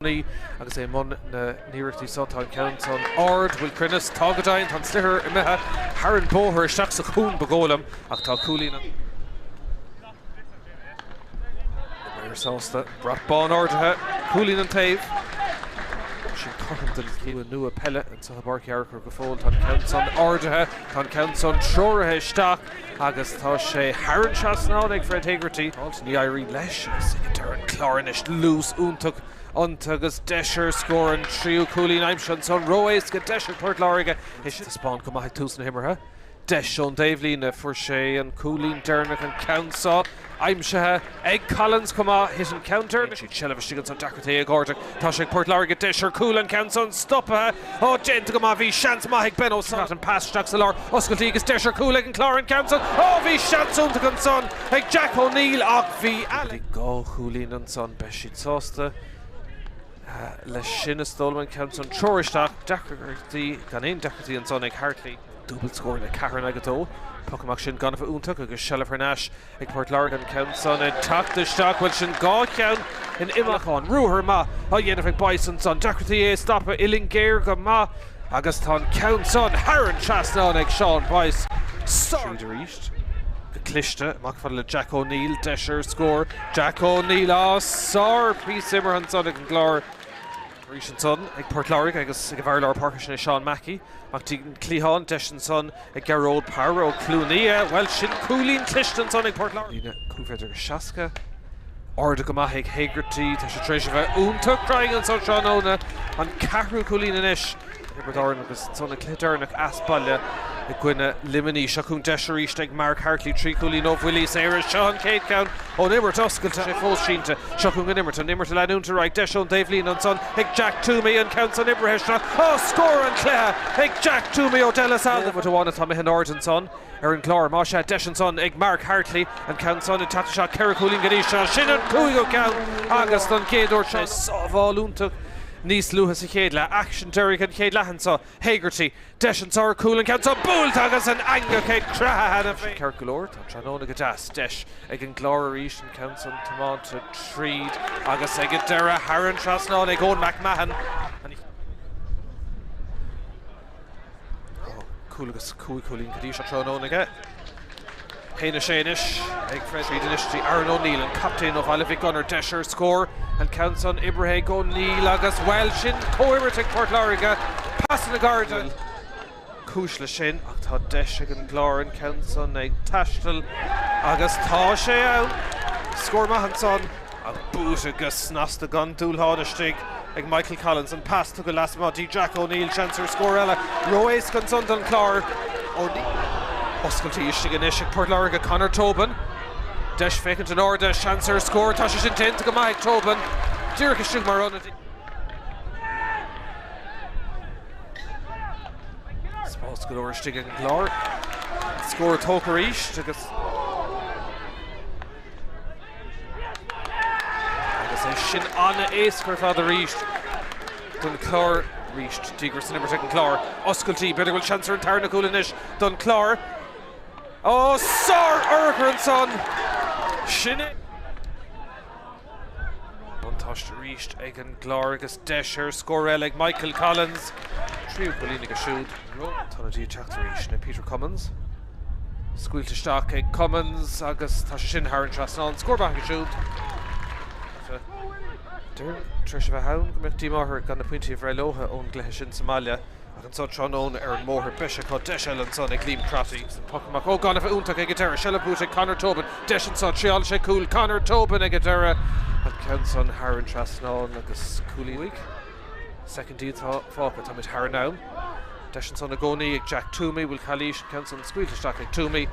gcónaí agus é i mbun na n-iarrachtaí seo. Tá an ceann san ard, bhfuil cruinneas. Tá, go deimhin. Tá an sliotar imithe thar an bóthar, isteach sa chuan, ba dhóigh liom, ach tá cúilín ann. Fear sásta. Brat bán ardaithe. Cúilín an taobh. Sin cothrom don shlua nua peile. Seo i bPáirc Uí Fhearchair go fóill, tá an ceann san ardaithe, tá an ceann san treoraithe isteach agus tá sé thar an trasnán ag Fred Hegarty. Fáilte, ní éiríonn leis agus ligtear an Clár anois luas iontach iontu agus deis ar scór, an tríú cúilín aimsithe ansan, ró-éasca deis ag Port Láirge. Taispeáin chomh maith ag tús na himeartha. Deis ón dtaobhlíne, fuair sé an cúilín deireanach, an ceann seo aimsithe ag Collins chomh maith, thit an ceann deireanach, siad seilbh istigh ansan, deacrachtaí, ag cuardach, tá sé ag Port Láirge, deis ar chúl, an ceann san stoptha, ó déanta go maith, bhí seans maith ag Ben O'Sullivan, an pas isteach sa lár, oscailt agus deis ar chúl ag an Clár, an ceann san, ó bhí seans iontach ansan ag Jack O'Neill ach bhí Alan. Bhí dhá chúilín ansan, beidh siad sásta leis sin is dóigh liom, an ceann san, treoraithe isteach, deacrachtaí, gan aon deacrachtaí ansan ag Hartley. Dúbailt scór le ceathair in aghaidh a dó. Poc amach sin gan a bheith iontach agus seilbh thar n-ais ag Port Láirge. An ceann san ag teacht isteach, bhuel sin dhá cheann in imeacht amháin. Ruathar maith á dhéanamh ag Boyce ansan. Deacrachtaí é a stopadh, uillinn géar go maith agus tá an ceann san thar an trasnán ag Seán Boyce. Sár. Tríd arís. Go cliste. Amach fada le Jack O'Neill. Deis ar scór. Jack O'Neill, á, sár phíosa imeartha ansan ag an gClár. Arís ansan ag Port Láirge agus ag a bhfear lár páirce sin é Seán Mackey, amach dtí an cliathán. Deis ansan ag Gearóid Power ó Cluain Fhia. Bhuel, sin cúilín cliste ansan ag Port Láirge. Líne cúig mhéadar agus seasca. Ardaithe go maith ag Hegarty. Tá sé tar éis a bheith iontach cruinn anso tráthnóna. An ceathrú cúilín anois. Thiobraid Árann agus ansan an cluiche deireanach as baile i gcoinne Luimnigh. Seo chugainn deis arís ag Mark Hartley, trí chúilín ó bhuillí saora. Seo an chéad cheann ón imirt oscailte, sé fós sínte. Seo chugainn an imirt, an imirt ag leanúint ar aghaidh, deis ón dtaobhlíne ansan ag Jack Twomey, an ceann san oibrithe isteach, á scór an cluiche ag Jack Twomey ó De La Salle! Nóiméad amháin atá amuigh in airde ansan. ar an gClár. Más ea, deis ansan ag Mark Hartley an ceann san ag teacht isteach. Ceithre chúilín go dtí seo. Sin an cúigiú ceann agus don gcéad uair seo sábháil iontach níos luaithe sa chéad leath. Aicsean deiridh an chéad leath anso. Hegarty, deis anso ar chúl, an ceann san buailte agus an eangach ag creathadh cheana féin. Ceart go leor, tá tráthnóna go deas. Deis ag an gClár arís an ceann san tiomáinte tríd agus ag an deireadh thar an trasnán ag Eoin McMahon. Cúl agus cúig chúilín go dtí seo tráthnóna aige. Pé na sé anois ag Fred Reid anois go dtí Aaron O'Neill, an captaen ó Bhaile Mhic Gonair, deis ar scór. An ceann san oibrithe ag O'Neill agus bhuel sin comhoibriú ag Port Láirge, pasanna gairide. Bhfuil cúis leis sin ach tá deis ag an gClár an ceann san ag taisteal agus tá sé ann. Scór maith ansan Ach buaite go snasta gan dul thart istigh ag Michael Collins. An pas tugtha lasmuigh dtí Jack O'Neill. Seans ar scór eile. Ró-éasca ansan don Chlár. O'Neill. Oscailte istigh anois ag Port Láirge, Conor Tobin. Deis féachaint in airde. Seans ar scór. Tá sé sin déanta go maith ag Tobin. Díreach istigh mar ionadaí. Spás go leor istigh ag an gClár. Scór tógtha arís agus. Agus é sin an-éasca ar fad arís don Chlár. Arís díograis san imirt ag an Chlár. Oscailtí, b'fhéidir go bhfuil seans ar an tarna cúl anois don Chlár. Ó, sár-urchar ansan! Sin é! Buntáiste arís ag an gClár agus deis ar scór eile ag Michael Collins. Tríú cúilín aige siúd. Tá na díobh teacht arís le Peter Cummins. Scaoilte isteach ag Cummins agus tá sé sin thar an trasnán. Scór maith aige siúd. Dóigh tar éis a bheith ann go mbeadh díomá orthu gan na pointí a bhreith leo ón gcluiche sin sa mbaile ach anseo tráthnóna ar an mbóthar beidh sé acu. Deis eile ansan ag Liam Crotty. Agus an poc amach. Ógánaigh fhiúntacha ag an deireadh. Seilbh buaite ag Conor Tobin. Deis anseo, thriáileann sé cúl. Conor Tobin ag an deireadh. An ceann san thar an trasnán agus cúilín uaidh. Soicindí atá fágtha, táimid thar an am. Deis ansan i gcónaí ag Jack Twomey, bhfuil calaois an ceann san scaoilte isteach ag Twomey?